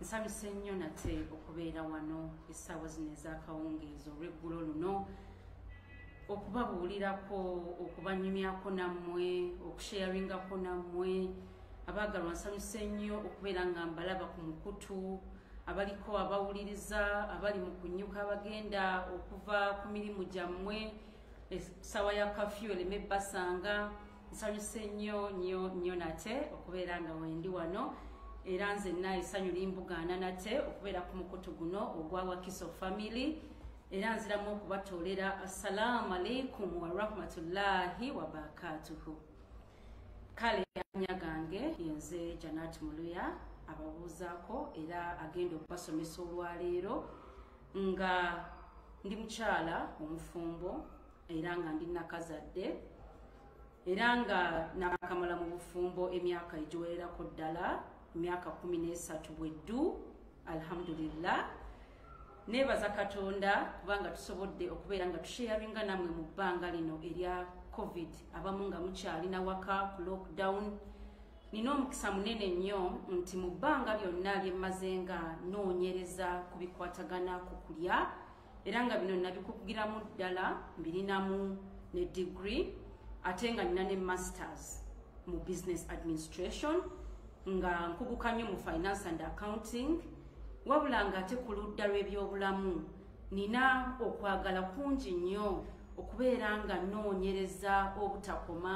nsabise nnyo nate okubeera wano essaawa zino ez'akawungeezi olw'eggulo luno okubabuulirako okubanyumyako nammwe okusheyaringako nammwe abaagalwa nsanyuse nnyo okubeera nga mbalaba ku mukutu abaliko abawuliriza abali mu kunyuka abagenda okuva ku mirimu gyammwe essaawa ya kafyu eleme basanga nsanyuse nnyo nnyo nnyo nate okubeera nga wendi wano era nzenna esanyu limbugaana nate okubeera ku mukutu guno ogwa wakiso family era nziramu okubatoolera assalaamu aleikum warahmatullahi wabarakatuhu kale anya gange yenze janat muluya ababuuzaako era agenda okubasomesa olwaleero nga ndi mukyala omufumbo era nga ndi nakazadde era nga nakamala mu bufumbo emyaka egiwererako ddala emyaka kumi n'esatu bweddu alhamdulillah nebaza katonda kubanga tusobodde okubeera nga tusheyaringa namwe mu bbanga lino erya covid abamu nga mukyalina waka ku lockdown nina omukisa munene nnyo nti mu bbanga lyonna lyemmaze nga noonyereza ku bikwatagana ku kulya era nga bino nabikugiramu ddala mbirinamu ne degree ate nga nina ne masters mu business administration nga nkuguka nnyo mu finance and accounting wabula nga ate ku ludda lw'ebyobulamu nina okwagala kungi nnyo okubeera nga noonyereza obutakoma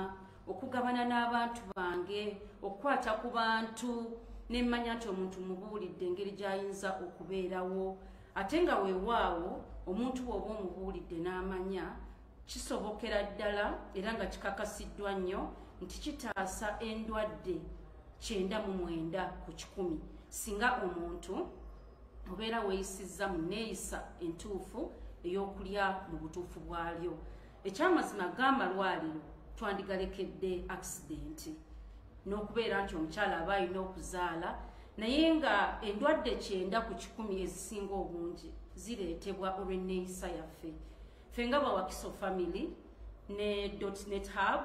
okugabana n'abantu bange okukwata ku bantu nemmanya nti omuntu mubuulidde engeri gy'ayinza okubeerawo ate nga weewaawo omuntu bw'oba omubuulidde n'amanya kisobokera ddala era nga kikakasiddwa nnyo nti kitaasa endwadde kyenda mu mwenda ku kikumi singa omuntu obeera weeyisizza mu neeyisa entuufu ey'okulya mu butuufu bwalyo ekyamazima g'amalwaliro twandigalekedde akisidenti n'okubeera nti omukyala aba alina okuzaala naye nga endwadde kyenda ku kikumi ezisinga obungi zireetebwa olw'enneeyisa yaffe ffe nga bawakiso family ne dotnet hub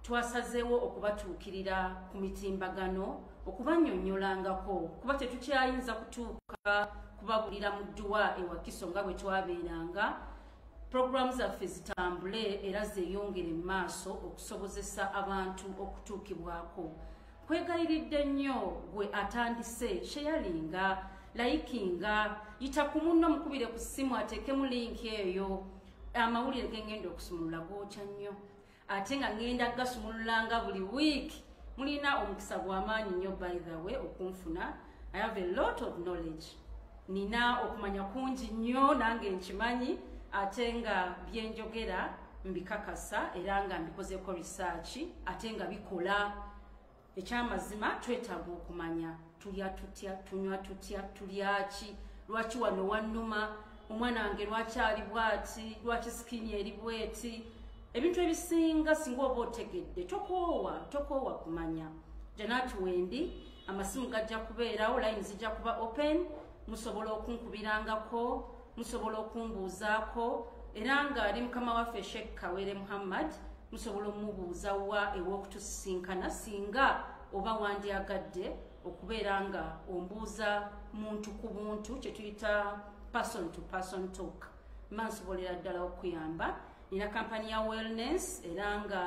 twasazeewo okubatuukirira ku mitimbagano okubanyonyolangako kuba tetukyayinza kutuuka kubabulira mu dduwa ewakiso nga bwe twabeeranga Programu zaffe zitambule era zeeyongere mu maaso okusobozesa abantu okutuukibwako. Nkwegayiridde nnyo gwe atandise sheyalinga, layikinga, yita ku munno mukubire ku ssimu ateekemu linki eyo amawulire gengenda okusumulula gookya nnyo. ate nga ŋŋenda gasumululanga buli wiiki mulina omukisa gw'amaanyi nnyo by the way okunfuna i have a lot of knowledge nina okumanya kungi nnyo nange nkimanyi ate nga byenjogera mbikakasa era nga mbikozeeko risaaki ate nga bikola ekyamazima twetaaga okumanya tulya tutya tunywa tutya tulyaki lwaki wano wannuma omwana wange lwaki ali bwati lwaki sikini eri bweti ebintu ebisinga singa oba otegedde tokoowa tokoowa kumanya janati wendi amasimu gajja kubeerawo layini zijja kuba open musobola okunkubirangako musobola okumbuuzaako era nga ali mukama waffe sheikh kawere muhammad musobola omubuuza wa ew'okutusisinkana singa oba wandyagadde okubeera nga ombuuza muntu ku buntu kye tuyita person to person talk mba nsobolera ddala okuyamba nina kampani ya wellness era nga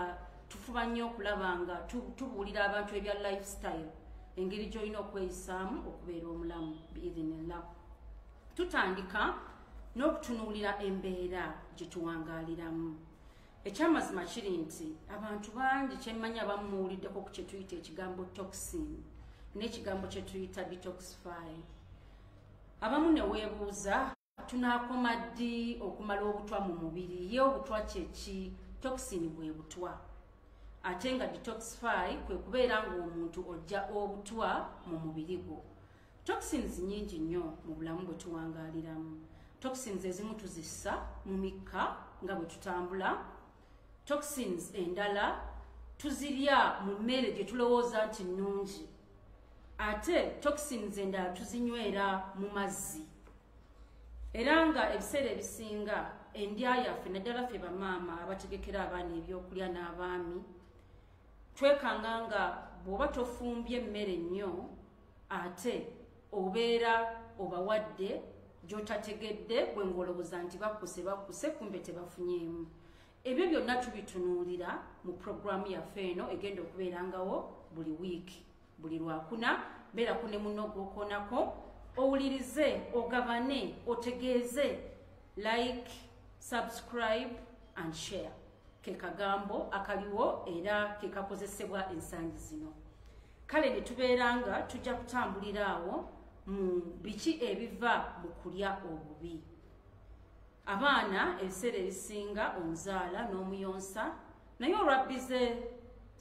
tufuba nnyo okulaba nga tubuulira abantu ebya lifestyle engeri gy'olina okweyisaamu okubeera omulamu biidhinillah tutandika n'okutunuulira embeera gye tuwangaaliramu ekyamazima kiri nti abantu bangi kyemmanyi abamu muwuliddeko ku kyetuyita ekigambo toxin n'ekigambo kyetuyita detoxify abamu ne weebuuza tunaakoma ddi okumala obutwa mu mubiri ye obutwa kyeki toxin bwe butwa ate nga detoxify kwe kubeera ng'omuntu ojja obutwa mu mubiri gwo Toxins nyingi nnyo mu bulamu bwe tuwangaaliramu. Toxins ezimu tuzissa mu mikka nga bwe tutambula. Toxins endala tuzirya mu mmere gye tulowooza nti nnungi. Ate toxins endala tuzinywera mu mazzi. Era nga ebiseera ebisinga endya yaffe naddala ffe bamaama abategekera abaana ebyokulya n'abaami twekanga nga bw'oba tofumbye emmere nnyo ate obeera obawadde gyotategedde gwe ng'olowooza nti bakkuse bakkuse kumbe tebafunyeemu ebyo byonna tubitunuulira mu puroguraamu yaffe eno egenda okubeerangawo buli wiiki buli lwakuna beerako ne muno ogwokoonako owulirize ogabane otegeeze like subscribe and share ke kagambo akaliwo era ke kakozesebwa ensangi zino kale ne tubeera nga tujja kutambulira awo mu biki ebiva mu kulya obubi abaana ebiseera ebisinga omuzaala n'omuyonsa naye olwabbize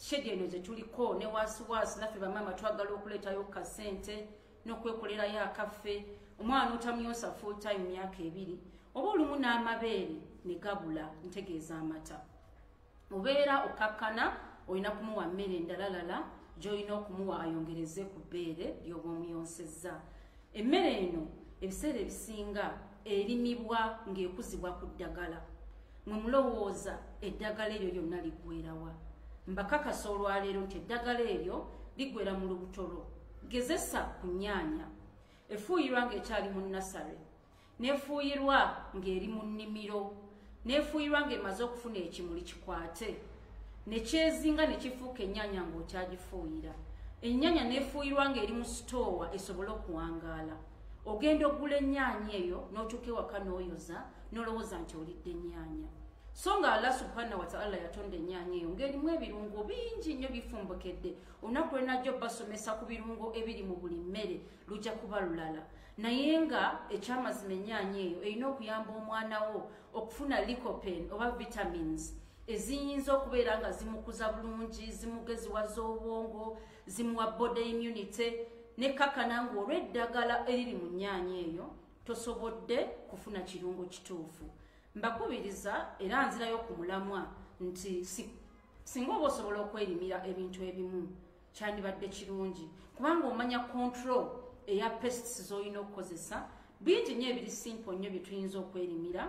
shedi eno zetuliko ne waasiwaasi naffe bamaama twagala okuleetayo kasente n'okwekolerayo akaffe omwana otamyosa full time myaka ebiri oba olumu n'amabeere ne gabula ntegeeza amata obeera okakkana olina kumuwa mmere endalalala gy'olina okumuwa ayongereze ku bbeere ly'oba omuyonsezza emmere eno ebiseera ebisinga erimibwa ng'ekuzibwa ku ddagala mwe mulowooza eddagala eryo lyonna liggwerawa mbakakasa olwaleero nti eddagala eryo liggwera mu lubuto lwo gezesa ku nnyaanya efuuyirwa ng'ekyali mu nasale n'efuuyirwa ng'eri mu nnimiro n'efuuyirwa ng'emaze okufuna ekimuli kikwate ne kyezinga ne kifuuka ennyaanya ng'okyagifuuyira ennyaanya n'efuuyirwa ng'eri mu sitoowa esobole okuwangaala ogenda okugula ennyaanya eyo n'otuuka ewaka n'oyoza n'olowooza nti olidde ennyaanya so nga allah subhanahu wataala yatonda ennyaanya eyo ng'erimu ebirungo bingi nnyo bifumbukedde olunaku lwe najja obbasomesa ku birungo ebiri mu buli mmere lujja kuba lulala naye nga ekyamazima enyaanya eyo erina okuyamba omwana wo okufuna licopen oba vitamins eziyinza okubeera nga zimukuza bulungi zimugeziwaza obwongo zimuwa body immunity nekakana nga olw'eddagala eriri mu nyaanya eyo tosobodde kufuna kirungo kituufu mbakubiriza era nzirayo ku mulamwa nti singa oba osobola okwerimira ebintu ebimu kyandibadde kirungi kubanga omanya control eya pests z'olina okukozesa bingi nnyo ebiri simple nnyo bye tuyinza okwerimira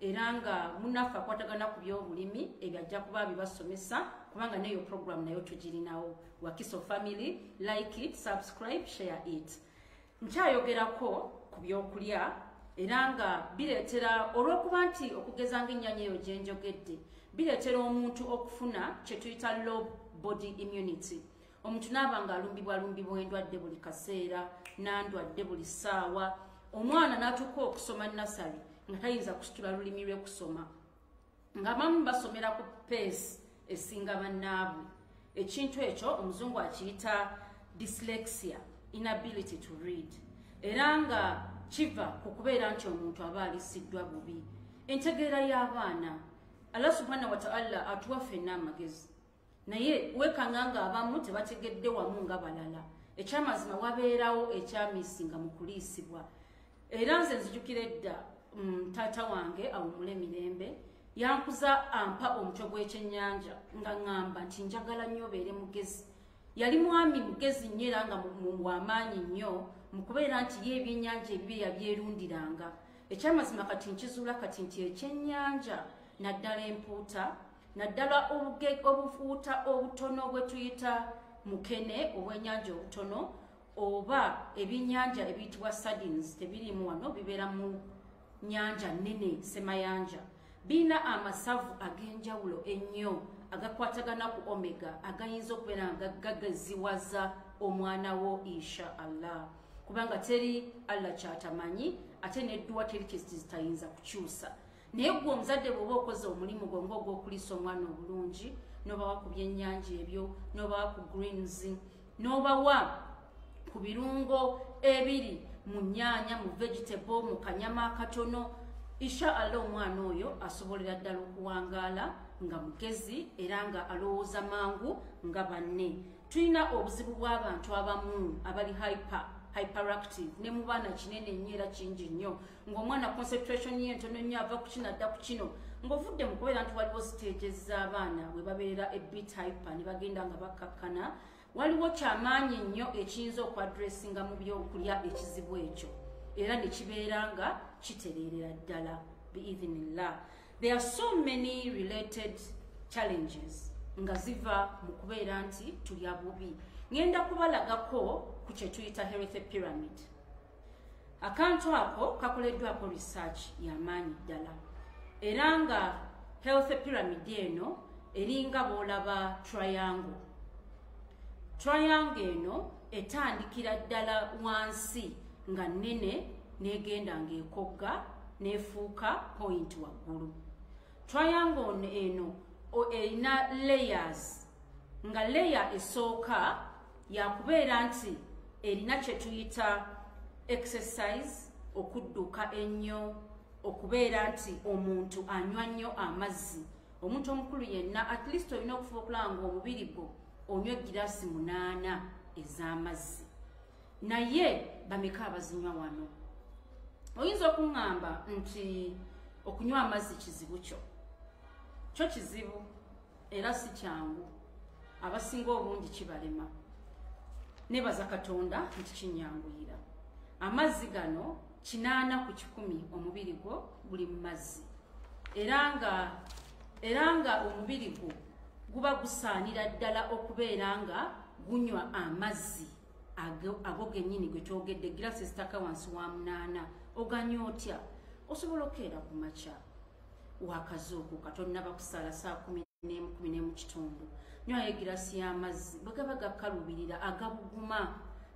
era nga munaffe akwatagana ku byobulimi ebyo ajja kuba bibasomesa kubanga neyo program nayo tugirinawo wakiso family like it subscribe share it nkyayogerako ku byokulya era nga bireetera olw'okuba nti okugeza ng'ennyanya eyo gye njogedde bireetera omuntu okufuna kye tuyita low body immunity omuntu naaba ng'alumbibwalumbibwa endwadde buli kaseera nandwadde buli ssaawa omwana n'atuuka okusoma nasale nga tayinza kusitula lulimi lwekusoma nga bamu basomera ku peesi esinga bannaabwe ekintu ekyo omuzungu akiyita dyslexia inability to read era nga kiva ku kubeera nti omuntu aba alisiddwa bubi entegeera y'abaana allah subhana wataala atuwa fenna amagezi naye wekanga nga abamu tebategedde wamu nga balala ekyamazima wabeerawo ekyamisinga mu kuliisibwa era nze nzijukira edda mm, taata wange awumule mirembe yankuza ampa omutwe gw'ekyennyanja nga ŋŋamba nti njagala nnyo obeere mugezi yali mwami mugezi nnyo era nga wamaanyi nnyo mu kubeera nti ye ebyennyanja ebibe yabyerundiranga ekyamazima kati nkizuula kati nti ekyennyanja naddala empuuta naddala obufuuta obutono bwe tuyita mukene obw'ennyanja obutono oba ebyennyanja ebiyitibwa sardines tebirimu wano bibeera mu nyanja nene semayanja birina amasavu ag'enjawulo ennyo agakwatagana ku omega agayinza okubeera nga gagaziwaza omwana wo insha allah kubanga teri allah kyatamanyi ate nedduwa teri kyezitayinza kukyusa naye gwe omuzadde bwoba okoze omulimu gwe nga ogwokulisa omwana obulungi nobawa ku byenyanja ebyo nobawa ku greens nobawa ku birungo ebiri mu nyaanya mu vegetable mu kanyama akatono isha allah omwana oyo asobolera ddala okuwangaala nga mugezi era nga alowooza mangu nga banne tulina obuzibu bw'abantu abamu abali hyper hyperactive ne mu baana kinene nnyo era kingi nnyo ng'omwana concentration ye ntono nnyo ava ku kino adda ku kino ng'ovudde mu kubeera nti waliwo siteegi z'abaana bwe babeerera ebit hyper ne bagenda nga bakkakkana waliwo kyamaanyi nnyo ekiyinza okuadressinga mu byokulya ekizibu ekyo era ne kibeera nga kitereerera ddala biidhinillah there are so many related challenges nga ziva mu kubeera nti tulya bubi ŋenda kubalagako ku kyetuyita healthy pyramid akantu ako kakoleddwako research yamaanyi ddala era nga health pyramid eno eringa bwolaba triangle triangle eno etandikira ddala wansi nga nnene negenda ngaekogga nefuuka point waggulu triangle ono eno erina layers nga layer esooka yakubeera nti erina kye tuyita exercise okudduka ennyo okubeera nti omuntu anywa nnyo amazzi omuntu omukulu yenna at least olina okufuba okulaba nga omubiri gwo onywa egiraasi munaana ez'amazzi naye bameka abazinywa wano oyinza okuŋŋamba nti okunywa amazzi kizibu kyo kyo kizibu era si kyangu abasinga obungi kibalema nebaza katonda nti kinyanguyira amazzi gano kinaana ku kikumi omubiri gwo guli mu mazzi era nga era nga omubiri gwo guba gusaanira ddala okubeera nga gunywa amazzi ago genyini gwe twogedde girasi ezitaka wansi wa munaana oganya otya osobola okukeera ku makya wakazuukuka tonnaba kusaala saa kumi n'emu kumi n'emu kitundu nywayo egirasi y'amazzi bwe gaba gakkalubirira agabuguma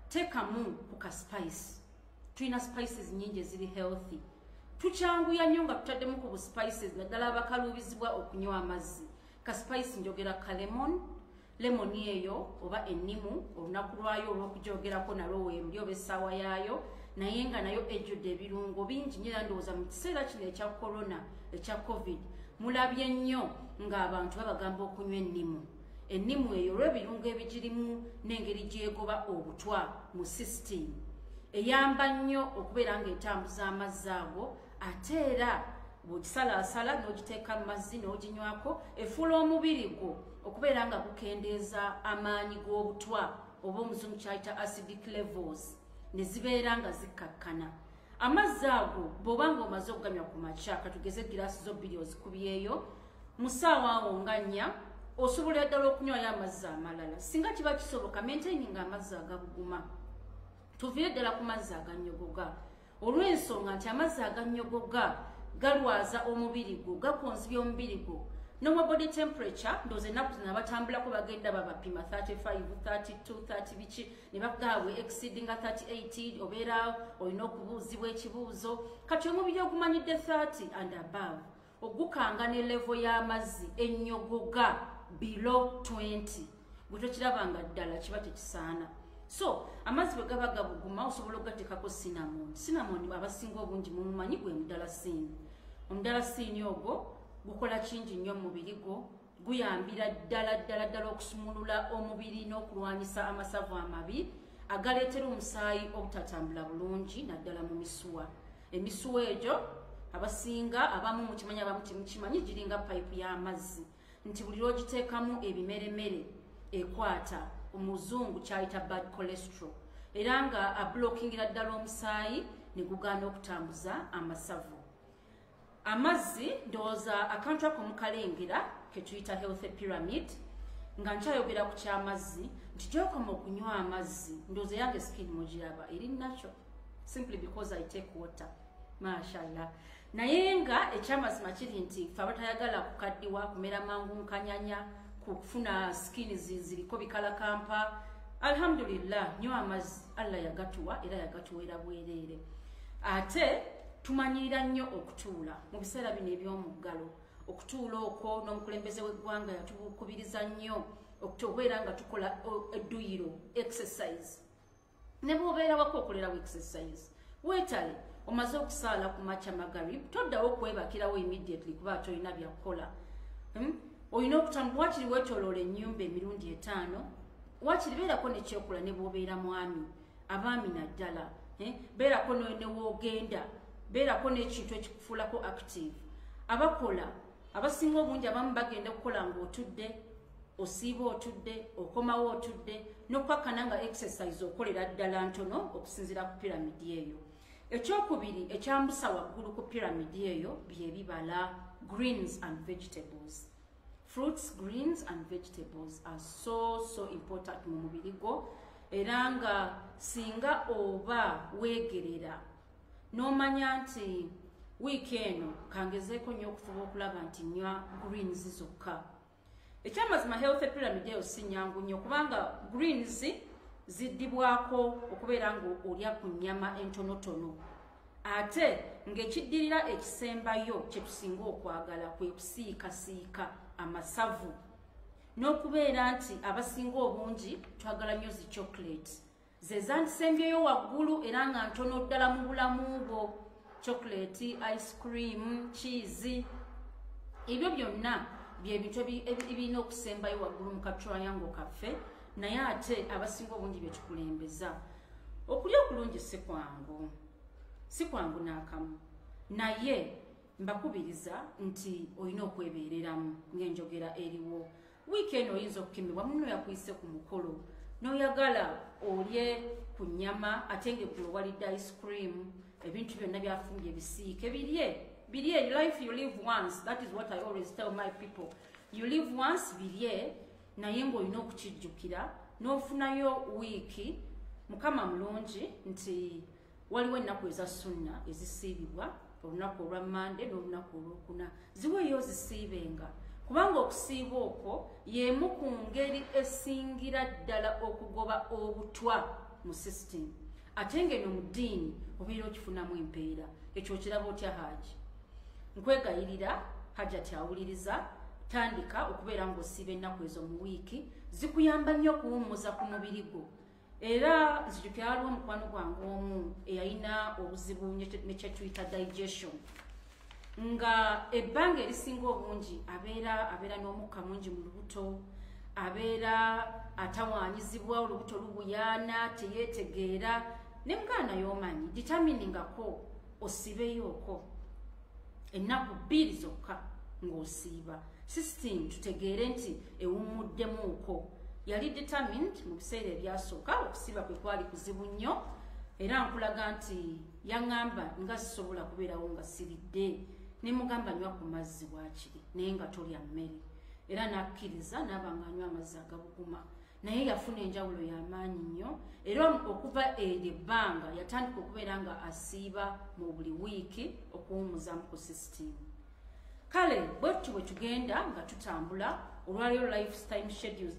teekamu ku ka spice tulina spices nyingi eziri healthy tukyanguya nnyo nga tutaddemu ku buspices naddala abakaluubizibwa okunywa amazzi ka spice njogera ka lemon lemoni eyo oba ennimu olunaku lwayo olw'okugyogerako nalwo wembi oba essaawa yaayo naye nga nayo ejjudde ebirungo bingi nyo era ndowooza mu kiseera kino ekya korona ekya covid mulabye nnyo ng'abantu babagamba okunywa ennimu ennimu eyo olw'ebirungo ebigirimu n'engeri gyegoba obutwa mu sisitiimu eyamba nnyo okubeera ng'etambuza amazzi ago ate era bw'ogisalaasala n'ogiteeka mu mazzi n'oginywako efuula omubiri gwo okubeera nga kukendeeza amaanyi g'obutwa oba omuzungu kyayita acidic levels ne zibeera nga zikkakkana amazzi ago bw'oba nga omaze okuganywa ku makya katugeze egiraasi zo bbiri ozikubyeyo mu ssaawa awo nga nnya osobola ddala okunywayo amazzi amalala singa kiba kisoboka maintaini nga amazzi agabuguma tuviire ddala ku mazzi aganyogoga olw'ensonga nti amazzi agannyogoga galwaza omubiri gwo gakonzibya omubiri gwo nowa body temperature ndoza ennaku zino abatambulako bagenda babapima 35 32 30 biki ne bagaabwe exceedinga 38 obeera olina okubuuzibwa ekibuuzo kati omubiri ogumanyidde 30 and above ogukanga ne levo y'amazzi ennyogoga bilo 20 gwe tokiraba nga ddala kiba tekisaana so amazzi bwe gaba gabuguma osobola okugateekako sinamon sinamon abasinga obungi mumumanyi gwe mudala siini omudala siini ogwo gukola kingi nnyo mumubiri gwo guyambira ddala ddala ddala okusumulula omubiri n'okulwanyisa amasavu amabi agaleetera omusaayi obutatambula bulungi naddala mu misuwa emisuwa egyo abasinga abamu mukimanyi abamu temukimanyi giringa payipu y'amazzi nti buli lwogiteekamu ebimeremere ekwata omuzungu kyayita bad cholesterol era nga abulokingira ddala omusaayi ne gugaana okutambuza amasavu amazzi ndowooza akantu ako mukalengera ketuyita healthy pyramid nga nkyayogera ku kyamazzi nti gyokoma okunywa amazzi ndowooza yange skin mugiraba eri nakyo simply because i take water mashallah naye nga ekyamazima kiri nti fe abatayagala kukaddiwa kumera mangu nkanyanya kufuna skin ziriko bikalakampa alhamdulillah nywa amazzi allah yagatuwa era yagatuweera bwereere ate tumanyirira nnyo okutuula mu biseera bino eby'omuggalo okutuula okwo n'omukulembeze w'eggwanga yatubukubiriza nnyo okubeera nga tukola edduyiro exercise ne bwobeera wako okolerawo exercise weetale omaze okusaala ku makya magarib toddawo okwebakirawo immediately kuba tolina byakukola hmm? olina okutamu wakiri weetoloola ennyumba emirundi etaano wakiri beerako nekyokola ne bwobeera mwami abaami naddala eh, beerako newoogenda beerako n'ekintu ekikufuulako active abakola abasinga obungi abamu bagenda okukola ng'otudde osiiba otudde okomawo otudde n'okukakkana nga exercise okolera ddala ntono okusinziira ku piramidi eyo ekyokubiri ekyambusa waggulu ku piramidi eyo byebibala greens and vegetables fruits greens and vegetables are so so important mu mubiri gwo era nga singa oba weegerera n'omanya nti wiiki eno kangezeeko nnyo okufuba okulaba nti nywa greens zokka ekyamazima health pyramid eyo si nyangu nnyo kubanga greens ziddibwako okubeera nga olya ku nnyama entonotono ate ng'ekiddirira ekisembayo kye tusinga okwagala kwe kusiikasiika amasavu n'okubeera nti abasinga obungi twagala nnyo zi chocolate ze zandisembyeyo waggulu era nga ntono ddala mu bulamu bwo chocolate ice cream cheese ebyo byonna byebintu ebirina okusembayo waggulu mu katriango kaffe naye ate abasinga obungi byekikulembeza okulya okulungi si kwangu si kwangu n'akamu naye mbakubiriza nti olina okwebeereramu ng'enjogera eriwo wiiki eno oyinza okukemebwa muno yakuyise ku mukolo n'oyagala olye ku nnyama ate ng'eggulo walidde ice cream ebintu byonna byafumbye bisiike birye birye life you live once that is what i always tell my people you live once birye naye ng'olina okukijjukira n'ofunayo wiiki mukama mulungi nti waliwo ennaku eza sunna ezisiibibwa olunaku olwa mande n'olunaku olwokuna ziweeyo ozisiibenga kubanga okusiiba okwo y'emu ku ngeri esingira ddala okugoba obutwa mu sisitimu ate ng'eno mu ddiini obeera okifunamu empeera ekyo okiraba otya haaki nkwegayirira hajati awuliriza tandika okubeera ng'osiiba ennaku ezo mu wiiki zikuyamba nnyo okuwummuza ku mubiri gwo era nzijukira waliwo omukwano gwange omu eyalina obuzibu nekyetuyita digestion nga ebbanga erisinga obungi abeera abeera n'omukka mungi mu lubuto abeera atawaanyizibwa olubuto lubuyaana teyeetegeera ne muganda yomanyi determiningako osibeyooko ennaku bbiri zokka ng'osiiba system tutegeere nti ewummuddemuuko yali determined mu biseera ebyasooka okusiba kwe kwali kuzibu nnyo era nkulaga nti yaŋŋamba nga sisobola kubeerawo nga siridde ne mugamba nywa ku mazzi waakiri naye nga tolya mmere era n'akkiriza n'abanga anywa amazzi agabuguma naye yafuna enjawulo y'amaanyi nnyo era okuva eryo ebbanga yatandika okubeera nga asiiba mu buli wiiki okuwumuzamu ku sisitiimu kale bwetutyo bwe tugenda nga tutambula olwaliyo lifetime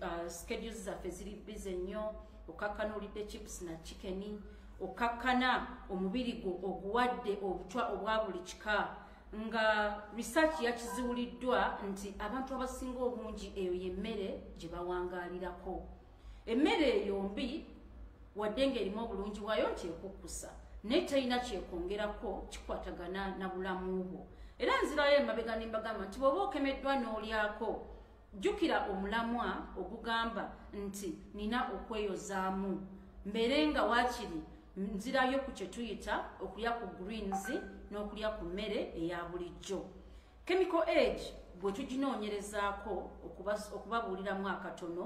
uh, schedules zaffe ziri bize nnyo okakkana olidde chips na chikeni okakkana omubiri gwo oguwadde obutwa obwa buli kika nga research yakiziwuliddwa nti abantu abasinga obungi eyo yemmere gye bawangaalirako emmere eyo mbi wadde ng'erimu obulungi bwayo nti ekukkusa naye talina kyekwongerako kikwatagana na bulamu bwo era nzirayo emabega nembagamba nti bwoba okemeddwa n'olyako jjukira omulamwa ogugamba nti nina okweyozaamu mbeere nga waakiri nzirayo ku kye tuyita okulya ku greens n'okulya ku mmere eya bulijjo chemical age bwe tuginoonyerezaako okubabuuliramu akatono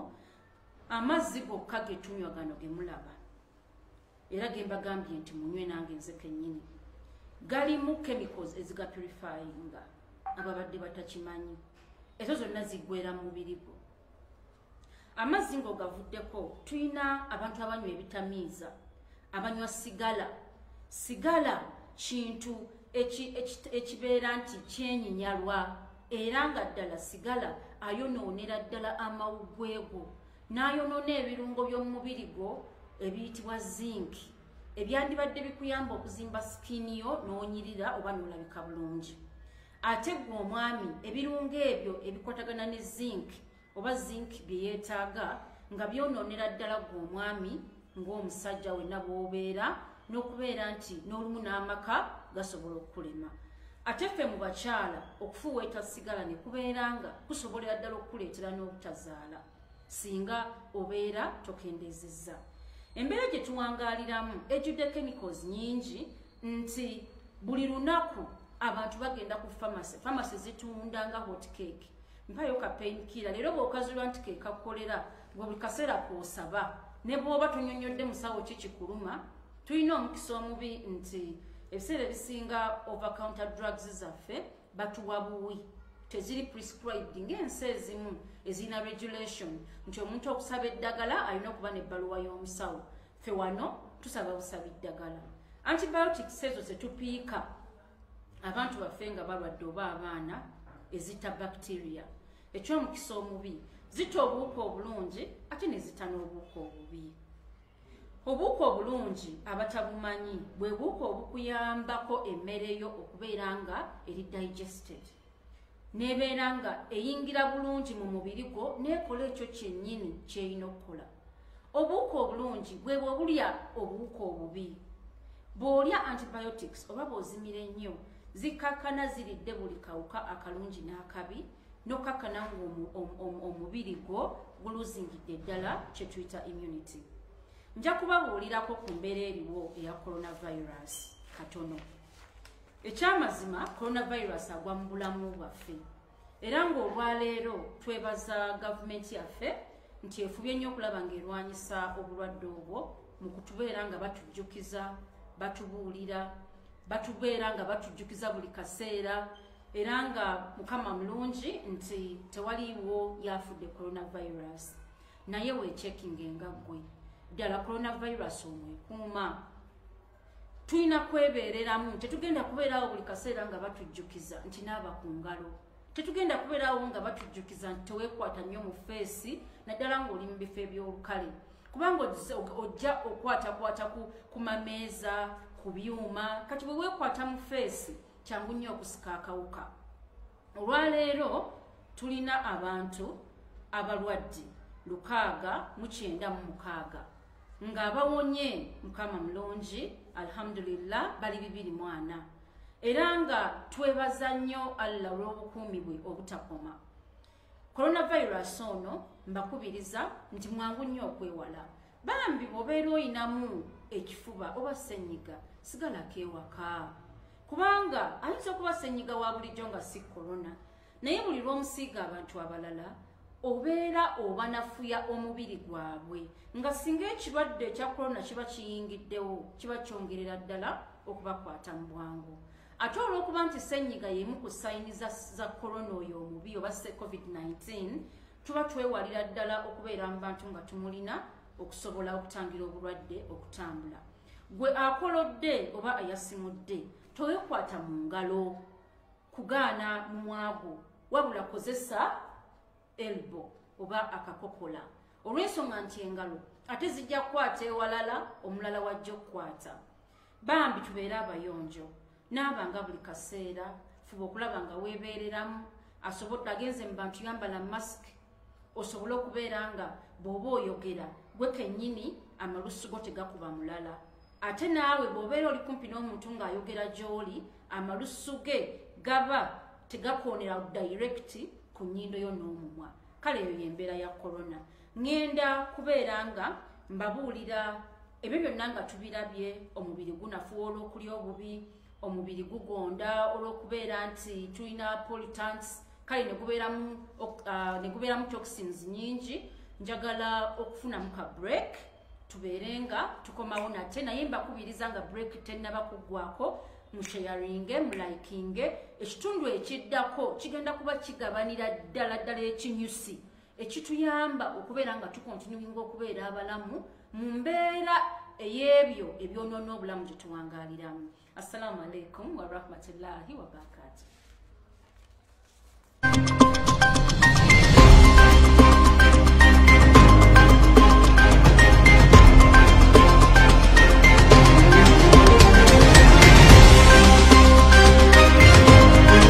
amazzi gokka getunywa gano gemulaba era gembagambye nti munywe nange nze kenyini galimu chemicals ezigapurifyinga ababadde batakimanyi ezo zonna ziggwera mu mubiri gwo amazzi ngaogavuddeko tulina abantu abanywa ebitamiiza abanywa sigala sigala kintu ekibeera nti kyenyinyalwa era nga ddala sigala ayonoonera ddala amawuggwe go n'ayonoona ebirungo by'omumubiri gwo ebiyitibwa zinc ebyandibadde bikuyamba okuzimba sikiini yo n'onyirira oba n'olabika bulungi ate ggwe omwami ebirungo ebyo ebikwatagana ne zinc oba zinc bye yeetaaga nga byonoonera ddala gwe omwami ng'omusajja wenna bw'obeera n'okubeera nti n'olumu n'amaka gasobola okukulema ate ffe mu bakyala okufuweeta sigala ne kubeera nga kusobolera ddala okukuleetera n'obutazaala singa obeera tokendeezezza embeera gye tuwangaaliramu ejjudde chemicals nyingi nti buli lunaku abantu bagenda ku famasi famasi zitunda nga hot cake mpayo ka pain killer leero bwokazulwa nti kekakukolera gwe buli kaseera kwosaba ne bwoba tunyonyodde musawo ki kikuluma tulina omukisa omubi nti ebiseera ebisinga over counter drugs zaffe batuwa buwi teziri prescribed ng'ensi ezimu ezirina regulation nti omuntu okusaba eddagala alina okuba n'ebbaluwa y'omusawo ffe wano tusaba busaba eddagala antibiotics ezo zetupiika abantu baffe nga balwadde oba abaana ezita bacteria ekyomukisa omubi zita obuwuka obulungi ate nezita n'obuwuka obubi obuwuka obulungi abatabumanyi bwe buwuka obukuyambako emmere yo okubeera nga eri digested nebeera nga eyingira bulungi mu mubiri gwo nekola ekyo kyennyini kyerina okukola obuwuka obulungi bwebwe obulya obuwuka obubi bw'olya antibiotics oba bw'ozimira ennyo zikkakkana ziridde buli kawuka akalungi n'akabi n'okkakkana ng'omubiri gwo guluzingidde ddala kye tuyita immunity nja kubabuulirako ku mbeera eriwo eya coronavirus katono ekyamazima coronavirus agwa mu bulamu bwaffe era ng'olwaleero twebaza gavumenti yaffe nti efubye nnyo okulaba ng'erwanyisa obulwadde obwo mu kutubeera nga batujjukiza batubuulira batubeera nga batujjukiza buli kaseera era nga mukama mulungi nti tewaliiwo yafudde coronavirus naye wechekinga engaggwe ddala coronavirus omwekuuma tulina kwebeereramu tetugenda kubeeraawo buli kaseera nga batujjukiza nti naaba ku ngalo tetugenda kubeeraawo nga batujjukiza nti teweekwata nnyo mu feesi naddala ng'oli mu bifo eby'olukale kubanga ojja okwatakwata ku mameeza ku byuma kati bwe weekwata mu feesi kyangu nnyo okusika akawuka olwaleero tulina abantu abalwadde lukaaga mukyenda mu mukaaga nga bawonye mukama mulungi alhamdulillah bali bibiri mwana era nga twebaza nnyo allah olw'obukuumi bwe obutakoma coronavirus ono mbakubiriza nti mwangu nnyo okwewala bambi bwobeera oyinamu ekifuba oba senyiga sigalako ewaka kubanga ayinza okuba senyiga wa bulijjo nga si corona naye buli lwomusiiga abantu abalala obeera obanafuya omubiri gwabwe nga singa ekirwadde ekya korona kiba kiyingiddewo kiba kyongerera ddala okubakwata mu bwangu ate olwokuba nti senyiga yemu ku sayini za korona oyo omubi oba se covid-19 tuba twewalira ddala okubeera mu bantu nga tumulina okusobola okutangira obulwadde okutambula gwe akolodde oba ayasimudde towekwata mu ngalo kugaana mumwago wabula kozesa elbo oba akakokola olw'ensonga nti engalo ate zijja kukwata ewalala omulala wajja okukwata bambi tubeere abayonjo naaba nga buli kaseera fuba okulaba nga weebeereramu asobodde agenze mu bantu yambala mask osobole okubeera nga bw'oba oyogera gwe kennyini amalusu go tegakuba mulala ate naawe bw'obeera oli kumpi n'omuntu ng'ayogera gy'oli amalusu ge gaba tegakoonera dayirekiti ku nnyindo yo n'omumwa kale eyo y'embeera ya korona ŋŋenda kubeera nga mbabuulira ebyo byonna nga tubirabye omubiri gunafuwa olw'okulya obubi omubiri gugonda olw'okubeera nti tulina politants kale negubeeramu uh, toxins nyingi njagala okufunamu ka break tubeere nga tukomawo nate naye mbakubiriza nga break tennaba kuggwako musheyaringe mulikinge ekitundu ekiddako kigenda kuba kigabanira ddala ddala ekinyusi ekituyamba okubeera nga tukontinuinga okubeera abalamu mu mbeera ey'ebyo ebyonoona obulamu gye tuwangaaliramu assalamu alaikum warahmatullahi wabarakatuh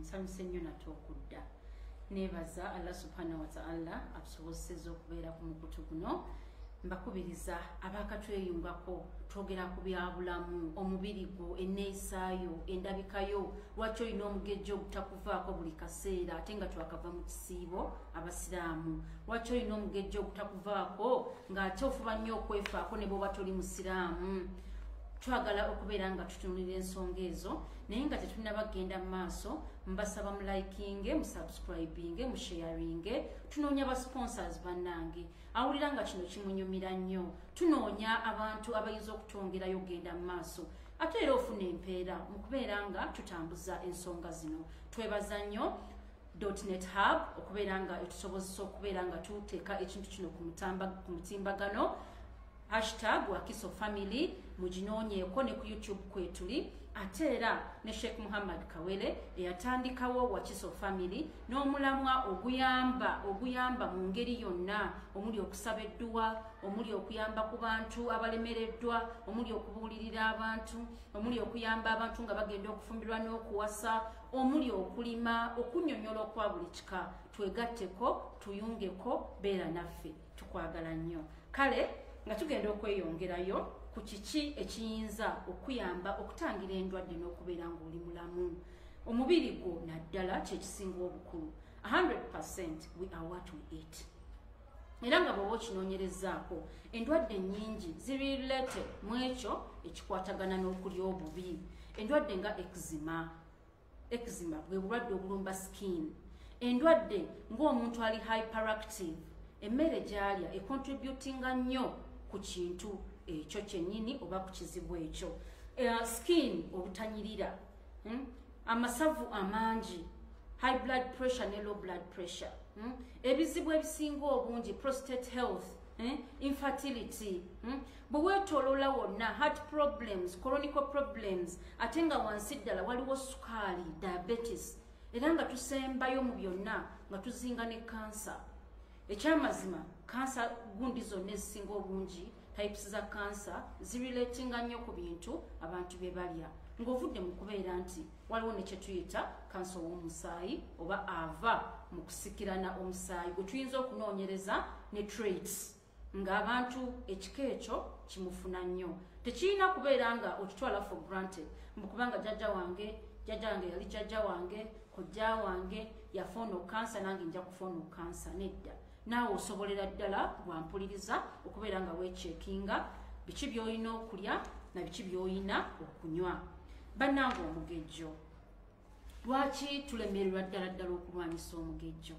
nsanyuse nnyo nate okudda neebaza allah subhana wataala atusobozeseza okubeera ku mukutu guno mbakubiriza abakatweyungako twogera ku byabulamu omubiri gwo enneeyisaayo endabikayo lwaki olina omugejjo ogutakuvaako buli kaseera ate nga twakava mu kisiibo abasiraamu lwaki olina omugejjo ogutakuvaako ng'ate ofuba nnyo okwefaako ne bwoba toli musiraamu twagala okubeera nga tutunulira ensonga ezo naye nga tetunaba kugenda mu maaso mbasaba mulikinge musubscribinge musharinge tunoonya ba sponsors bannange awulira nga kino kimunyumira nnyo tunoonya abantu abayinza okutwongerayo okugenda mu maaso ate era ofuna empeera mu kubeera nga tutambuza ensonga zino twebaza nnyo dotnet hub okubeera nga etusobozesa okubeera nga tuteeka ekintu kino ku mutimbagano Hashtag Wakiso Family muginoonyeeko ne ku YouTube kwetuli ate era ne Sheikh Muhammad Kawere eyatandikawo Wakiso Family n'omulamwa oguyamba oguyamba mu ngeri yonna omuli okusaba edduwa omuli okuyamba ku bantu abalemereddwa omuli okubuulirira abantu omuli okuyamba abantu nga bagenda okufumbirwa n'okuwasa omuli okulima okunyonyola okwa buli kika twegatteko tuyungeko beera naffe tukwagala nnyo kale nga tugenda okweyongerayo ku kiki ekiyinza okuyamba okutangira endwadde n'okubeera ng'oli mulamu omubiri gwo naddala kyekisinga obukulu 100 we are what we eat era nga bwewa okinoonyerezaako endwadde nyingi ziri lete mu ekyo ekikwatagana n'okulya obubi endwadde nga exima Eczema bwe bulwadde obulumba skin. Endwadde ng'omuntu ali hyperactive, emmere gy'alya econtributinga nnyo ku kintu ekyo kyennyini oba ku kizibu ekyo. Uh, skin obutanyirira, hmm? amasavu amangi, high blood pressure ne low blood pressure, hmm? ebizibu ebisinga obungi, prostate health, hmm? infertility, hmm? bwe weetooloola wonna heart problems colonical problems ate nga wansi ddala waliwo sukaali diabetes era nga tusembayo mu byonna nga tuzinga ne kansa ekyamazima kansa gundi zonna ezisinga obungi types za kansa zirelatinga nnyo ku bintu abantu bye balya ng'ovudde mu kubeera nti waliwo ne kye tuyita kansa ow'omusaayi oba ava mu kusikirana omusaayi gwe tuyinza okunoonyereza ne traits ng'abantu ekika ekyo kimufuna nnyo tekirina kubeera nga okitwala for granted mukubanga jjajja wange jjajja wange yali jjajja wange kojja wange yafoona okansa nange nja kufoona okansa nedda naawe osobolera ddala wampuliriza okubeera nga wekyekinga biki byolina okulya na biki byolina okunywa bannanga omugejjo lwaki tulemererwa ddala ddala okulwanyisa omugejjo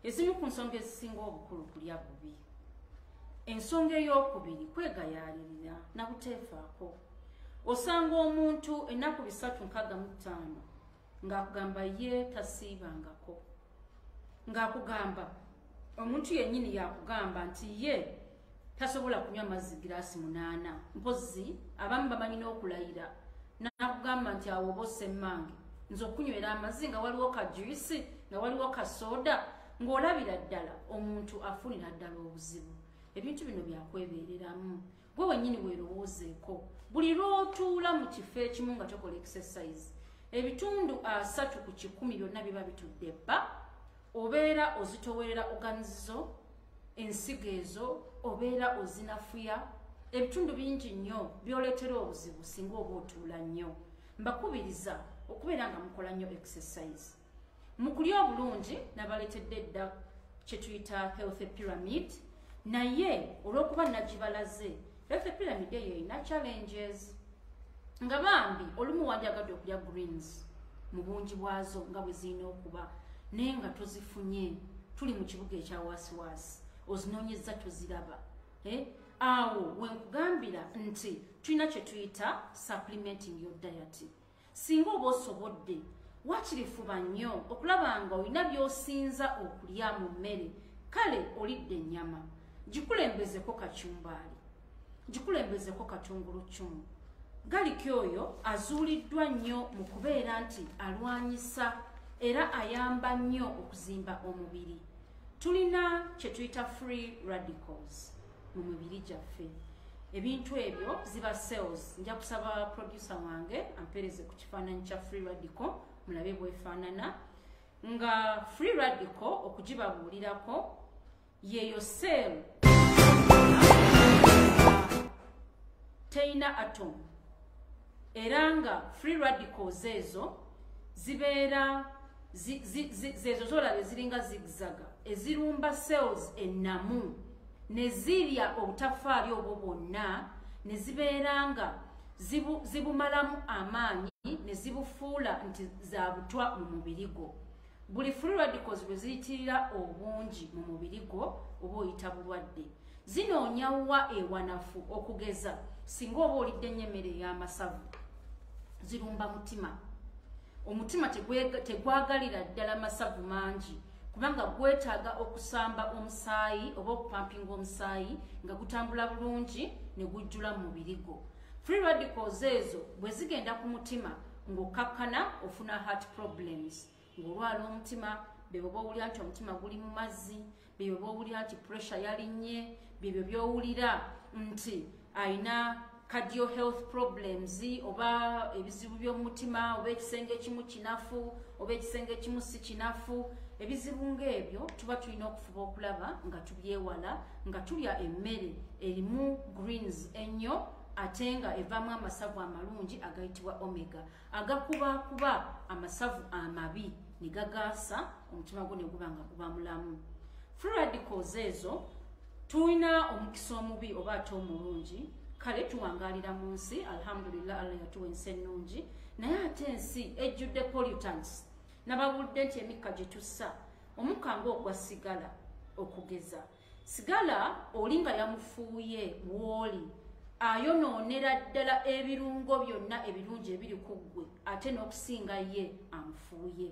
ezimu ku nsonga ezisinga obukulu kulya bubi ensonga ey'okubiri kwegayaalirira na buteefaako osanga omuntu ennaku bisatu nkaaga mu ttaano ng'akugamba ye tasiibangako ng'akugamba omuntu yennyini yakugamba nti ye tasobola kunywa mazzi giraasi munaana mpozzi abamu bamanyi n'okulayira nakugamba nti awo oba osemmange nze okunywera amazzi nga waliwo ka juisi nga waliwo ka soda ng'olabira ddala omuntu afunira ddala obuzibu ebintu bino byakwebeereramu gwe wenyini werowoozeeko buli lwotuula mu kifo ekimu nga tokola exercise ebitundu asatu ku kikumi byonna biba bitudde bba obeera ozitowerera oganizizo ensigo ezo obeera ozinafuya ebitundu bingi nnyo byoleetera obuzibu singa oba otuula nnyo mbakubiriza okubeera nga mukola nnyo exercise mu kulya obulungi nabaleetedde edda kye tuyita healthy pyramid naye olw'okuba nagibalaze healthy pyramid eyo erina challenges nga bambi olumu wandyagadde okulya greens mu bungi bwazo nga bwe zirina okuba naye nga tozifunye tuli mu kibuga ekya waasiwaasi ozinoonyezza toziraba eh? awo wenkugambira nti tulina kye tuyita supplementing your diety singa oba osobodde wakiri fuba nnyo okulaba nga olina by'osinza okulya mu mmere kale olidde ennyama gikulembezeko kacumbaali gikulembezeko katungulu ccumu galiki oyo azuuliddwa nnyo mu kubeera nti alwanyisa era ayamba nnyo okuzimba omubiri tulina kye tuyita free radicals mu mibiri gyaffe ebintu ebyo ziba cells nja kusaba producer wange ampereze ku kifaananyi kya free radical mulabe bwefaanana nga free radical okugibabuulirako yeeyo cell terina atom era nga free radicals ezo zibeera zezo zolaba eziringa zigzaga ezirumba cells ennamu ne zirya obutafaali obwo bwonna ne zibeera nga zibumalamu amaanyi ne zibufuula nti za butwa mu mubiri gwo buli free radicals bwe ziyitirira obungi mu mubiri gwo oba oyita bulwadde zinoonya wa ewanafu okugeza singa oba olidde nnyo emmere ey'amasavu zirumba mutima omutima tegwagalira ddala masavu mangi kubanga gwetaaga okusamba omusaayi oba okupampinga omusaayi nga gutambula bulungi ne gujjula mu mubiri gwo free radicals ezo bwe zigenda ku mutima ng'okkakkana ofuna heart problems ng'olwala omutima bebyo bowulira nti omutima guli mu mazzi bebyo bowulira nti pressure yalinnye byebyo byowulira nti alina cardio health problems oba ebizibu by'omutima oba ekisenge ekimu kinafu oba ekisenge ekimu si kinafu ebizibu ng'ebyo tuba tulina okufuba okulaba nga tubyewala nga tulya emmere erimu greens ennyo ate nga evaamu amasavu amalungi agayitibwa omega agakubakuba amasavu amabi ne gagaasa omutima gwo ne guba nga guba mulamu fradicals ezo tulina omukisa omubi oba ate omulungi kale tuwangalira mu nsi alhamdulillah allah yatuwa ensi ennungi naye ate ensi ejjudde pollutants nababulidde nti emikka gye tussa omukka ngaogwa sigala okugeza sigala oli nga yamufuuye wooli ayonoonera ddala ebirungo byonna ebirungi ebiri ku ggwe ate n'okusinga ye amufuuye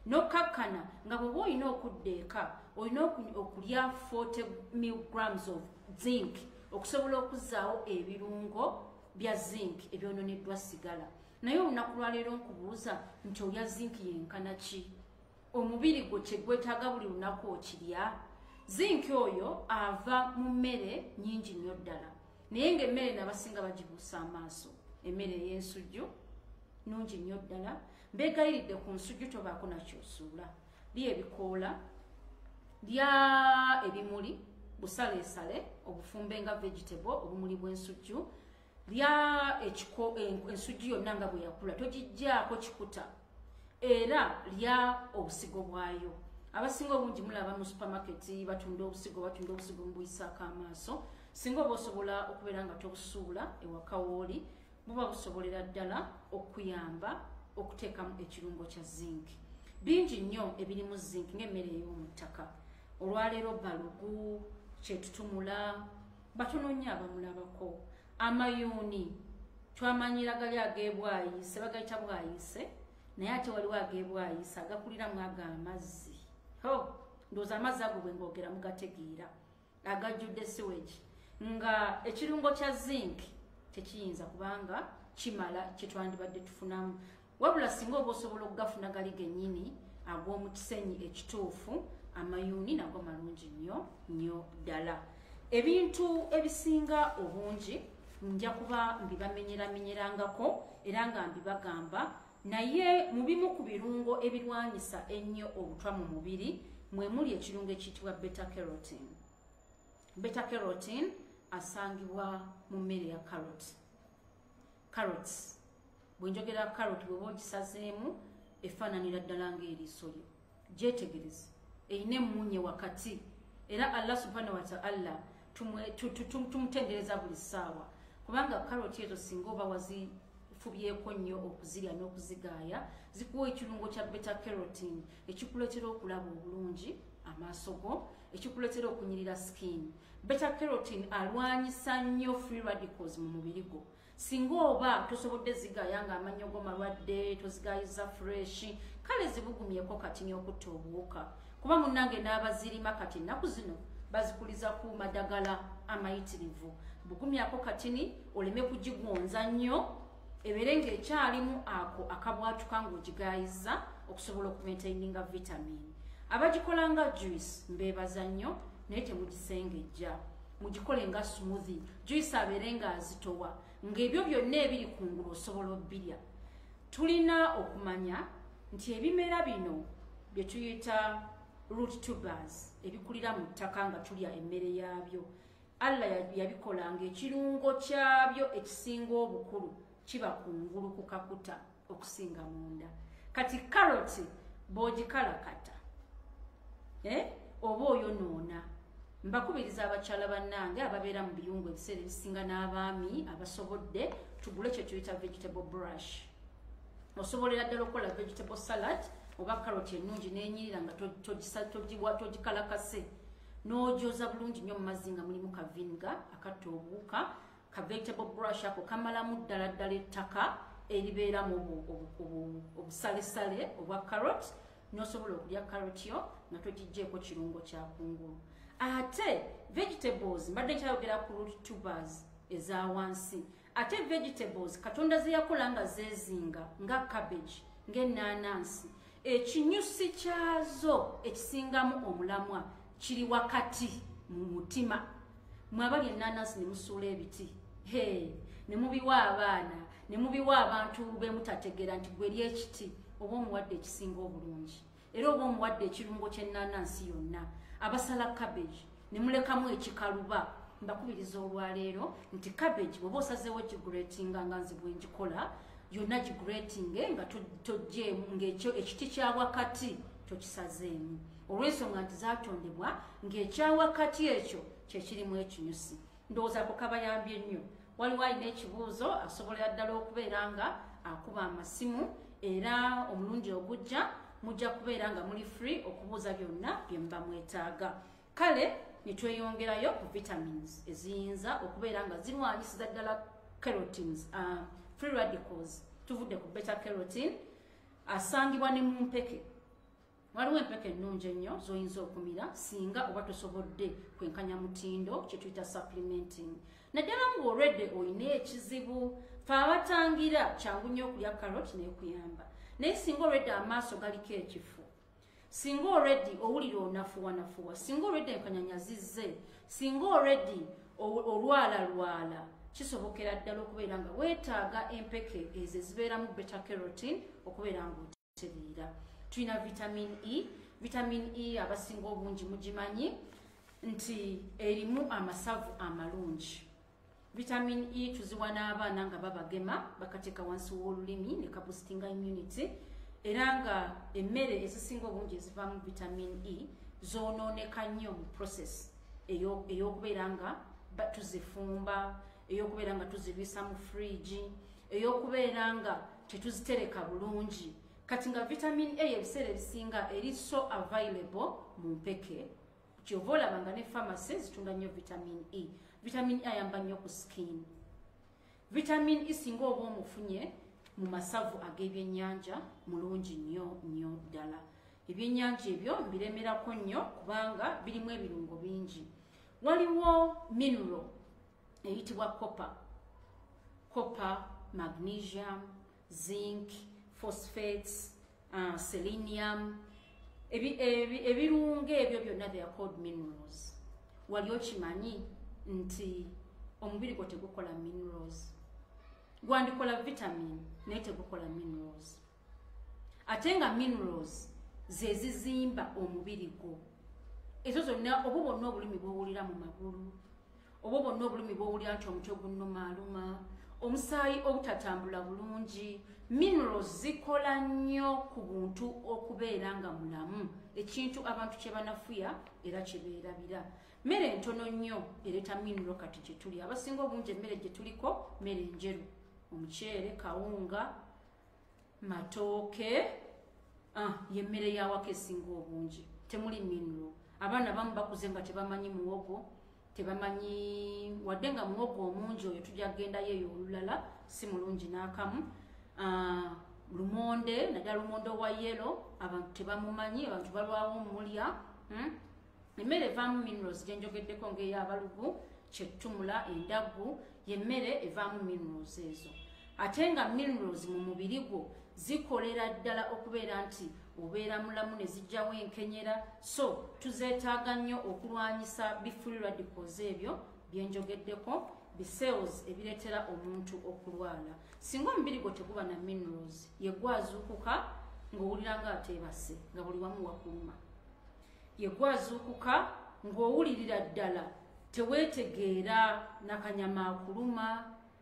nokkakkana nga bweoba olina okudda eka olina okulya 40 milligrams of zinc okusobola okuzaawo ebirungo bya zinc ebyononeddwa sigala naye olunaku lwaleero nkubuuza nti olya zinc yenkana ki omubiri gwo kyegwetaaga buli lunaku okirya zinki oyo ava mu mmere nyingi nnyo ddala naye ngaemmere nabasinga bagibuusa amaaso emmere ey'ensujju nungi nnyo ddala mbeegayiridde ku nsujju tobaako nakyosuula li ebikoola lya ebimuli busaleesale obufumbe nga vegetable obumuli bw'ensujju lya ekiko ensujju yonna nga bwe yakula togijjaako kikuta era lya obusigo bwayo abasinga obungi mulaba mu supermarket batunda obusigo batunda obusigo mubuyisaako amaaso singa oba osobola okubeera nga tobusuula ewakawooli buba busobolera ddala okuyamba okuteekamu ekirungo kya zinc bingi nnyo ebirimu zinc ngaemmere ey'omu ttaka olwaleero balugu kyetutumula batono nnyo abamulabako amayuuni twamanyira gali agebwayise bagayita bwayise naye ate waliwo agebwayise agakuliramu ago amazzi ho ndooza amazzi ago bwe ngoogera mugategeera agajjudde siwegi nga ekirungo kya zinc tekiyinza kubanga kimala kyetwandibadde tufunamu wabula singa oba osobola okugafuna gali genyini ag'omu kisenyi ekituufu amayuuni nago malungi nnyo nnyo ddala ebintu ebisinga obungi nja kuba mbibamenyeramenyerangako era nga mbibagamba naye mu bimu ku birungo ebirwanyisa ennyo obutwa mu mubiri mwe muli ekirungo ekiyitibwa beta carotin beta carotin asangibwa mu mmere ya caroti carrots bwenjogera carrot bweba ogisazeemu efaananira ddala ngaeriiso lyo gyetegereze erina emmunye wakati era allah subhana wataala tumutendereza buli ssaawa kubanga carrot ezo singa oba wazifubyeko nnyo okuzirya n'okuzigaaya zikuwa ekirungo kya beta carotin ekikuleetera okulaba obulungi amaaso go ekikuletera okunyirira skin beta kerotin alwanyisa nnyo free radicals mu mubiri gwo singa oba tosobodde zigaya nga amannyo go malwadde tozigayiza fresh kale zibugumyeko kati nyokutta obuwuka kuba munnange n'abazirima kati ennaku zino bazikuliza ku madagala amayitirivu bugumyako katini oleme kugigonza nnyo ebeere ng'ekyalimu ako akabwatuka ng'ogigaayiza okusobola okumaintaininga vitamin abagikola nga juice mbeebaza nnyo naye temugisengejja mugikole nga smoothi juice abeere nga azitowa ng'ebyo byonna ebiri ku ngulu osobola obbirya tulina okumanya nti ebimera bino bye tuyita root tubers ebikulira mu ttaka nga tulya emmere yaabyo allah yabikola nga ekirungo kyabyo ekisinga obukulu kiba kungulu ku kakuta okusinga munda kati karoti bwogikalakata eh? oba oyonoona mbakubiriza abakyala bannange ababeera mu biyungu ebiseera ebisinga n'abaami abasobodde tugule ekyo tuyita vegetable brush osobolera ddala okukola vegetable salad oba karoti ennungi n'enyirira nga togikalakase to, to, to, to, to, to, to, to, to, to, to, to, n'ojoza bulungi nnyo mu mazzi nga mulimu ka vinga akatta obuwuka ka vegetable brush ako kamalamu ddala ddala ettaka eribeeramu obusalesale obwa carrot n'osobola okulya carrot yo nga togijjeeko kirungo kya kungulu ate vegetables mbadde nkyayogera ku root tubers eza wansi ate vegetables katonda zeyakola nga zezinga nga cabbage ng'ennaanansi ekinyusi kyazo ekisingamu omulamwa kiri wakati mu mutima mwabali ennaanansi ne musuula ebiti he ne mubiwa abaana ne mubiwa abantu bemutategeera nti gwe lyekiti oba omuwadde ekisinga obulungi era oba omuwadde ekirungo kyennaanansi yonna abasala cabbage ne mulekamu ekikaluba mbakubiriza olwaleero nti cabbage bweoba osazeewo gigretinga nga nze bwengikola yonna gigretinge nga tojjeemu ngaekyo ekiti kya wakati tokisazeemu olw'ensonga nti zatondebwa ng'ekya wakati ekyo kyekirimu ekinyusi ndowooza ko kabayambye nnyo waliwo alina ekibuuzo asobolera ddala okubeera nga akuba amasimu era omulundi ogujja mujja kubeera nga muli free okubuuza byonna bye muba mwetaaga kale ne tweyongerayo ku vitamins eziyinza okubeera nga zirwanyisiza ddala carotins uh, free radicals tuvudde ku beta carotin asangibwa ne mu mpeke waliwo empeke ennungi ennyo z'oyinza okumira singa oba tosobodde kwenkanya mutindo kye tuyita supplementing naddala ng'olwedde olina ekizibu fe abatangira kyangu nnyo okulya carrot n'ekuyamba naye singa olwedde amaaso galiko ekifu singa olweddi owulira onafuwanafuwa singa olwedde enkanyanya zizze singa olweddi olwalalwala kisobokera ddala okubeera nga weetaaga empeke ezo ezibeeramu beta carotine okubeera nga tereera tulina vitamin e vitamin e abasinga obungi mugimanyi nti erimu amasavu amalungi vitamin e tuziwa n'abaana nga babagema bakateeka wansi w'olulimi ne kabustinga immunity era nga emmere ezisinga obungi ezivaamu vitamin e zoonooneka nnyo mu process eyokubeera nga tuzifumba eyokubeera nga tuzibisa mu fridge eyokubeera nga tetuzitereka bulungi kati nga vitamin a ebiseera ebisinga eri so available mu mpeke kyova olaba nga ne pharmacy zitunda nnyo vitamin e vitamin e ayamba nnyo ku skin vitamin e singa oba omufunye mu masavu ag'ebyennyanja mulungi nnyo nnyo ddala ebyennyanja ebyo mbiremerako nnyo kubanga birimu ebirungo bingi waliwo mineral eyitibwa copper copper magnesium zinc phosphates uh, selenium ebirungo ebyo byonna they are called minerals wali okimanyi nti omubiri gwo tegukola minerals gwandikola vitamin naye tegukola minerals ate nga minerals zezizimba omubiri gwo ezo zonna obo bonna obulumi bwowulira mu magulu obo bonna obulumi bwowulira nti omutwe gunnomaaluma omusaayi obutatambula bulungi minerals zikola nnyo ku buntu okubeera nga mulamu ekintu abantu kyebanafuya era kyebeerabira mmere ntono nnyo ereeta mineral kati gyetuli abasinga obungi emmere gyetuliko mmere njeru omuceere kawunga matooke ah, yemmere yawako esinga obungi temuli minro abaana bamu bakuze nga tebamanyi muwogo tebamanyi wadde nga muwogo omungi oyo tujja kugendayo eyo olulala si mulungi n'akamu ah, lumonde naddala lumonde owa yelo abantu tebamumanyi abantu balwawo omulya hmm? emmere evaamu minerals gye njogeddeko ng'ey'abalugu kyettumula endaggu y'emmere evaamu minerals ezo ate nga minerals mu mubiri gwo zikolera ddala okubeera nti obeera mulamu ne zijjawo enkenyera so tuzeetaaga nnyo okulwanyisa bifuli radicals ebyo bye njogeddeko bicells ebireetera omuntu okulwala singa omubiri gwo teguba na minerals yegwazuukuka ng'owulira ng'ateebase nga buli wamu wakuluma yegwazuukuka ng'owulirira ddala teweetegeera nakanyama akuluma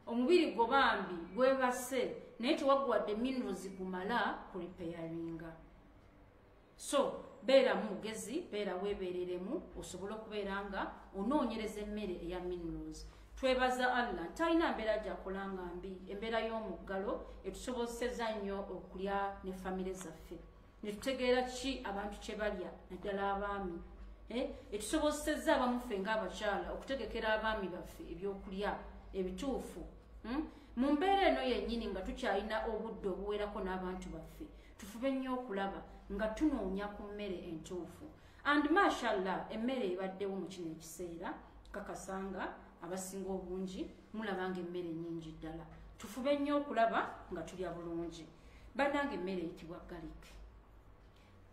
omubiri gwo bambi gwebase naye tewaguwadde minerals gumala ku repeyaringa so beera mugezi beera weebeereremu osobole okubeera nga onoonyereza emmere eya minerals twebaza allah talina mbeera gyakola nga mbi embeera y'omuggalo etusobozeseza nnyo okulya ne famire zaffe netutegeera ki abantu kyebalya naddala abaami eh, etusobozesezza abamuffe ngaabakyala okutegekera abaami baffe ebyokulya ebituufu hmm? mu mbeera eno yennyini nga tukyalina obudde obuwerako n'abantu baffe tufube nnyo okulaba nga tunoonya ku mmere entuufu and mashallah emmere ebaddewo mu kino ekiseera kakasanga abasinga obungi mulaba nga emmere nyingi ddala tufube nnyo okulaba nga tulya bulungi banange emmere eyitibwa galik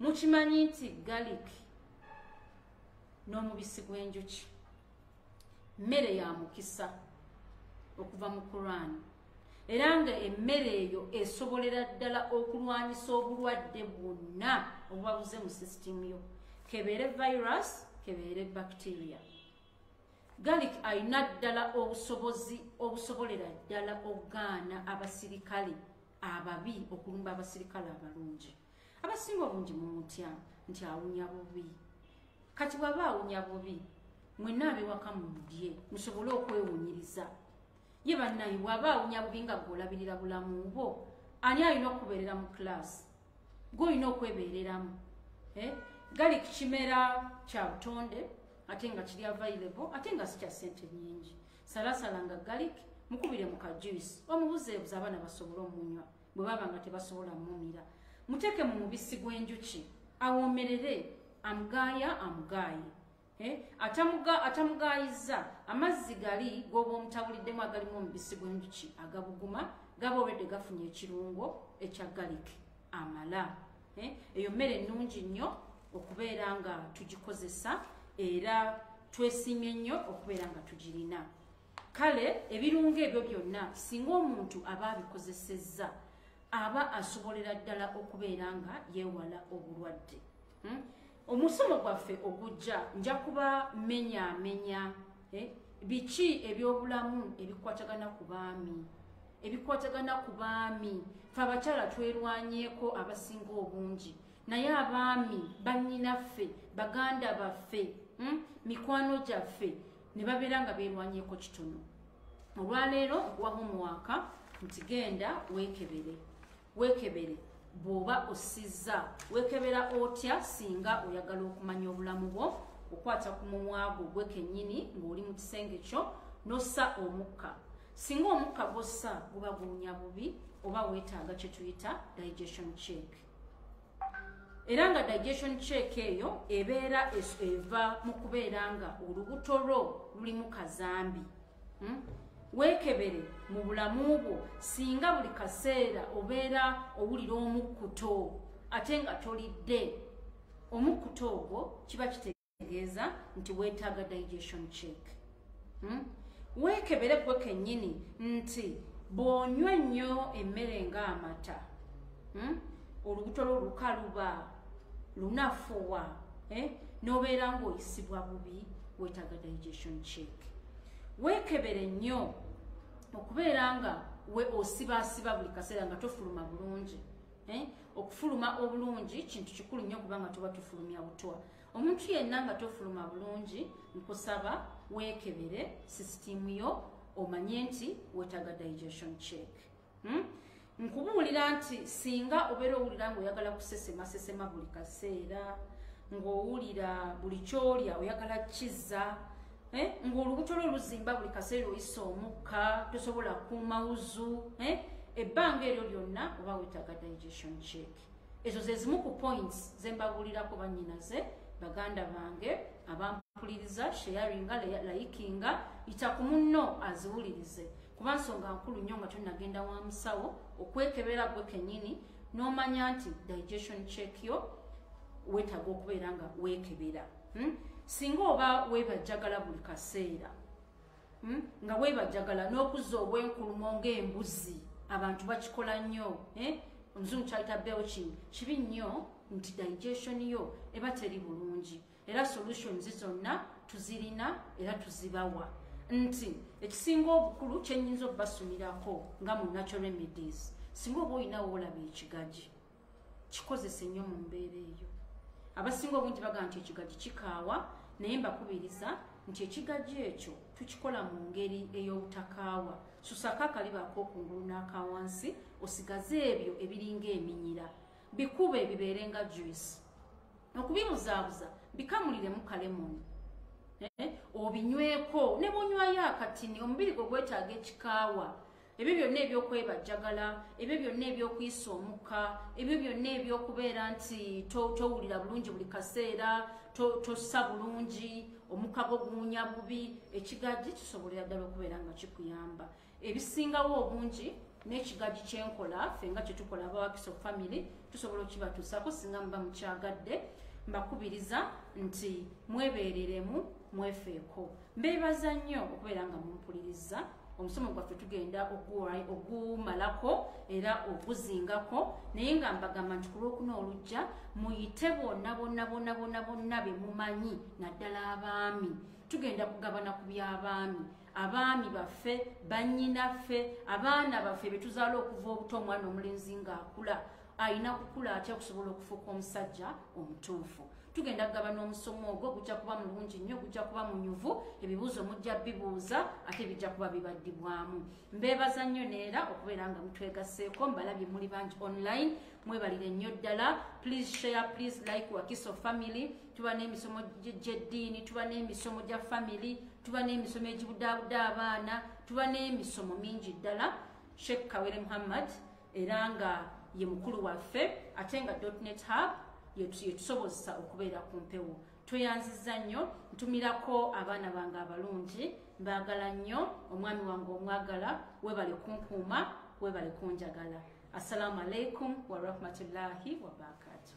mukimanyi nti galik n'omubisi gw'enjuki mmere ya mukisa okuva mu kuraani era nga emmere eyo esobolera ddala okulwanyisa obulwadde bwonna obubabuze mu sisitimu yo kebeere virus kebeere bacteria galik alina ddala obusobozi obusobolera ddala okugaana abasirikale ababi okulumba abasirikale abalungi abasinga obungi mumutya nti awunya bubi kati bwaba awunya bubi mwena abiwaka mumudye musobole okwewunyiriza ye bannaye bwaba awunya bubi nga gweolabirira bulamu bwo ani alina okubeerera mu kilaasi golina okwebeereramu eh? gali ku kimera kya butonde ate nga kiri available ate nga sikya sente nyingi salasala nga galik mukubire mu kajuice omubuzeebuza abaana basobole omunywa bwe baba nga tebasobola mumira muteeke mu mubisi gw'enjuki awoomerere amugaaya amugaaye Eh, atamugaayizza amazzi gali gwoba omutabulidemu agalimu omubisi gwenjuki agabuguma gaba olwedde gafunye ekirungo ekya galik amala eh, eyo mmere ennungi nnyo okubeera nga tugikozesa era twesimye nnyo okubeera nga tugirina kale ebirungo ebyo byonna singa omuntu aba abikozesezza aba asobolera ddala okubeera nga yeewala obulwadde hmm? omusomo gwaffe ogujja nja kuba menyamenya eh? biki ebyobulamu ebikwatagana ku baami ebikwatagana ku baami fe abakyala twerwanyeeko abasinga obungi naye abaami bannyinaffe baganda baffe hmm? mikwano gyaffe ne babeera nga beerwanyeeko kitono olwaleero nkuwa homuwaaka nti genda weekebere wekebere bwoba osizza wekebera otya singa oyagala okumanya obulamu bwo okwata ku mumwa gwo gwe kennyini ng'oli mu kisenge kyo n'ossa omukka singa omukka gwossa guba guwunya bubi oba weetaaga kye tuyita digestion check era nga digestion check eyo ebeera eva mu kubeera nga olubuto lwo lulimu kazambi hmm? weekebere mu bulamu bwo singa buli kaseera obeera owulira omukkuto ate nga tolidde omukkuto ogwo kiba kitegeeza nti weetaaga digestion check hmm? weekebere gwe kennyini nti bw'onywa ennyo emmere ng'amata hmm? olubuto lwo lukaluba lunafuwa eh? nobeera ngaoyisibwa bubi wetaga digestion check wekebere nnyo okubeera nga we osibaasiba buli kaseera nga tofuluma bulungi eh? okufuluma obulungi kintu kikulu nnyo kubanga tuba tufulumya butwa omuntu yenna nga tofuluma bulungi nkusaba wekebere sisitiimu yo omanye nti wetaga digestion check hmm? nkubuulira nti singa obeera owulira nga oyagala kusesema sesema buli kaseera ng'owulira buli kyolya oyagala kizza eh? ng'olubuto lwo luzimba buli kaseera oyisa omukka tosobola kuuma wuzu eh? ebbanga eryo lyonna oba wetaaga digestion cheki ezo ze zimu ku points ze mbabuulirako bannyinaze baganda bange abampuliriza sheyaringa layikinga yita ku munno aziwulirize kuba nsonga nkulu nnyo nga tonagenda wa musawo okwekebera gwe kenyini n'omanya nti digestion check yo weetaaga okubeera nga weekebera hmm? singa oba weebajjagala buli kaseera hmm? nga webajagala n'okuzza obwenkulumo ng'embuzi abantu bakikola nnyo eh? omuzungu kyayita belching kibi nnyo nti digestion yo eba teri bulungi era solutions zonna tuzirina era tuzibawa nti ekisinga obukulu kyenyinza okubasumirako nga mu natural remedies singa oba olinawo olaba ekigaji kikozese nnyo mu mbeera eyo abasinga obungi bagamba nti ekigaji kikaawa naye mbakubiriza nti ekigaji ekyo tukikola mu ngeri ey'obutakaawa susako akaliba ak'okungulu n'akawansi osigaze ebyo ebiringa eminyira bikube bibeere nga juice okubibuzaabuza bikamuliremu kalemoni eh, obinyweko ne bunywayo akatini omubiri gwe gwetaaga ekikaawa ebyo byonna ebyokwebajjagala ebyo byonna ebyokuyisa omukka ebyo byonna ebyokubeera nti towulira bulungi buli kaseera tossa bulungi omukka gwo guwunya bubi ekigajji kisobolera ddala okubeera nga kikuyamba ebisingawo obungi n'ekigajji kyenkola fe nga kyetukola abawakiso famiry tusobola okibatuusako singa muba mukyagadde mbakubiriza nti mwebeereremu mwefeeko mbeebaza nnyo okubeera nga mumpuliriza omusomo gwaffe tugenda ogumalako era oguzingako naye nga mbagamba nti ku lwokuna olujja muyite bonna bonna bonna bonna bonna be mumanyi naddala abaami tugenda kugabana ku by'abaami abaami baffe bannyinaffe abaana baffe be tuzaala okuva obuto omwana omulenzi ng'akula alina kukula atya okusobola okufuuka omusajja omutuufu tugenda kugaba n'omusomo ogwo gujja kuba mulungi nnyo gujja kuba munyuvu ebibuuzo mujja bibuuza ate bijja kuba bibaddibwamu mbeebaza nnyo neera okubeera nga mutwegaseeko mbalabye muli bangi online mwebalire nnyo ddala please share please like wakiso family tuba n'emisomo gy'eddiini tuba n'emisomo gya family tuba n'emisomo egibudaabuda abaana tuba n'emisomo mingi ddala sheikh kawere muhammad era nga ye mukulu waffe ate nga dotnet hub yetusobozesa okubeera ku mpewo tweyanziza nnyo ntumirako abaana bange abalungi mbaagala nnyo omwami wange omwagala webale kunkuuma webale kunjagala assalamu alaikum warahmatullahi wabarakatuh